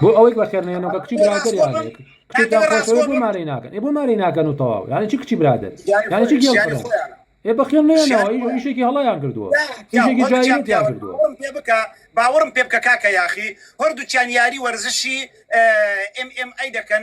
بۆ ئەوەی بەخێرنێنەوە کە کچی برادری مارەی ناکەن بۆ مارەی ناکەن و تەواو یانی چی کچی برادر یانی چی گێڵ ئێ بەخێن نێنەوە یشێکی هەڵیان کردووە یشێکی جایان کردووە بکە باوەڕم پێ بکە کاکە یاخی هەردووچیان یاری وەرزشی ئەم ئەم ئەی دەکەن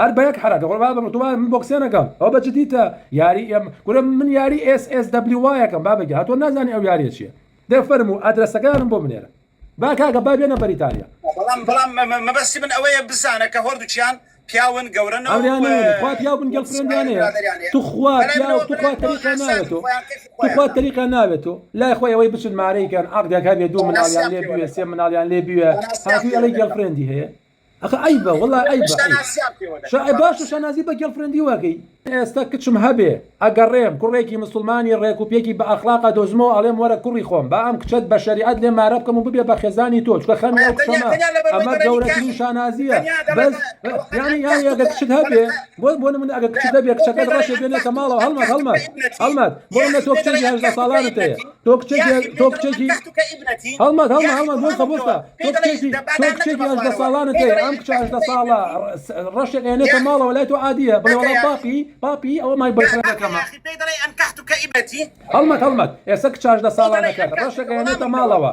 هەر بەیەک حەرە دەخۆن بابە من تۆبابە من بۆکسێ نەکەم ئەوە بە جدیتە یاری ئێم کورە من یاری ئێس ئێس دەبلیو وایەکەم بابە گیان هەتۆ نازانی ئەو یاریە چیە دە فەرموو ئەدرەسەکانم بۆ بنێرە با کاکە با بێنە بەریتانیا. بەڵام بەڵام مەبەستی من ئەوەیە بزانە کە هۆردوکیان پیاون گەورەن و ئەوریان نەوێنی خوا پیاو بن گێڵفرێندیان هەیە توخوا پیاو توخوا تەریقیان ناوێت تۆ توخوا تەریقیان ناوێت تۆ لای خۆی ئەوەی بچن مارەی کەن عەقدێک هەبێ دوو مناڵیان لێ بوێ سێ مناڵیان لێ بوێ هاتووی ئەڵێی گێڵفرێندی هەیە ئەخە عەیبە وەڵا عەیبە عەیب باشە شانازی بە گێڵفرێندی وەکەی. ئێستە کچم هەبێ ئەگەڕێم کوڕێکی مسوڵمانی ڕێک و پێکی بە ئەخڵاق ئەدۆزمەوە ئەڵێم وەرە کوڕی خۆم با ئەم کچەت بە شەریعەت لێ مارە بکەم و ببێ بە خێزانی تۆ چونکە خەمی ئەو کچەمە ئەمە گەورەترین شانازییە بەس یانی یانی ئەگەر کچت هەبێ بۆ بۆ نمونە ئەگەر کچت هەبێ کچەکەت ڕەشێ بێنێتە ماڵەوە هەڵمەت هەڵمەت هەڵمەت بۆ نمونە تۆ کچێکی هەژدە ساڵانت هەیە تۆ کچێکی تۆ کچێکی هەڵمەت هەڵمە هەڵمە بۆسە بۆسە تۆ کچێکی تۆ کچێکی هەژدە ساڵانە تێ ئەم کچە هەژدە ساڵە ڕەشێک ئێنێتە ماڵەوە لای تۆ عادیە بڵێ وڵا پاپی پاپی ئەوە مای بەکەمە هەڵمەت هەڵمەت ئێستا کچ هەژدە ساڵانەکە ڕەشێک ئێنێتە ماڵەوە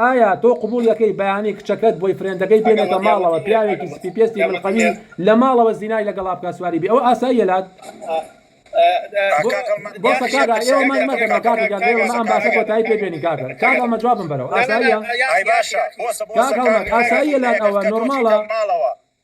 ئایا تۆ قبوڵ یەکەی بەیانی کچەکەت بۆی فرێندەکەی بێنێتە ماڵەوە پیاوێکی سپی پێستی ملقەوی لە ماڵەوە زینای لەگەڵا بکات سواری بی ئەوە ئاساییە لات بۆسە کاکە ئێوە مەند مەکەن بە کاکە گیان ئێوە مە ئەم باسە کۆتایی پێ بێنین کاکە کاک هەڵمە جوابم بەرەوە ئاساییە کاک هەڵمەت ئاساییە لات ئەوە نۆرماڵە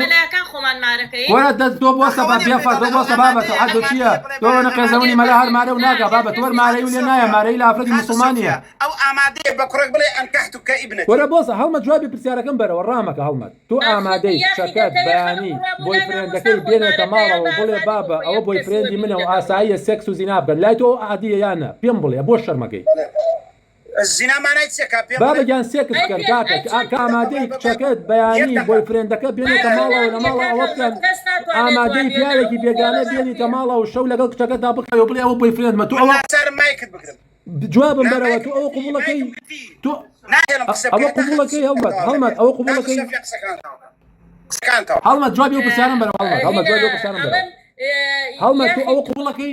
مەلایەکان خۆمان مارەکەی وەرە دەست تۆ بۆ سەبا بیا فەر تۆ بۆ سەبا بە تۆ حەدو چییە تۆ وەنە قێزەونی مەلا هەر مارە و ناگا بابەت وەر مارەی و لێ نایە مارەی لە ئافرەتی موسڵمانیە ئەو ئامادەیە بە کوڕێک بڵێ ئەنکەحتوکە ئیبنەتی. وەرە بۆسە هەڵمەت جوابی پرسیارەکەم بەرەوە ڕامەکە هەڵمەت تۆ ئامادەی کچەکەت بەیانی بۆیفرێندەکەی بێنێتە ماڵەوە و بڵێ بابە ئەوە بۆیفرێندی منە و ئاساییە سێکس و زینا بکەن لای تۆ ئەوە عادییە یان نە پێم بڵێ بۆ شەرمەکەی بابە گیان سێکس بکەن کاتە کە ئامادەی کچەکەت بەیانی بۆی فرێندەکە بێنێتە ماڵەوە لە ماڵە ئەوە بکەن ئامادەی پیاوێکی بێگانە بێنیتە ماڵە و شەو لەگەڵ کچەکەتدا بخەوە بڵێ ئەوە بۆی فرێندمە تۆ ئەوە جوابم بەرەوە تۆ ئەوە قوبڵەکەی تۆ ئەوە قوبڵەکەی هەڵمەت هەڵمەت ئەوە قوبڵەکەی هەڵمەت جوابی و پرسیارم بەرەوە هەڵمەت هەڵمەت جوابی و پرسیارم بەرەوە هەڵمەت تۆ ئەوە قوبڵەکەی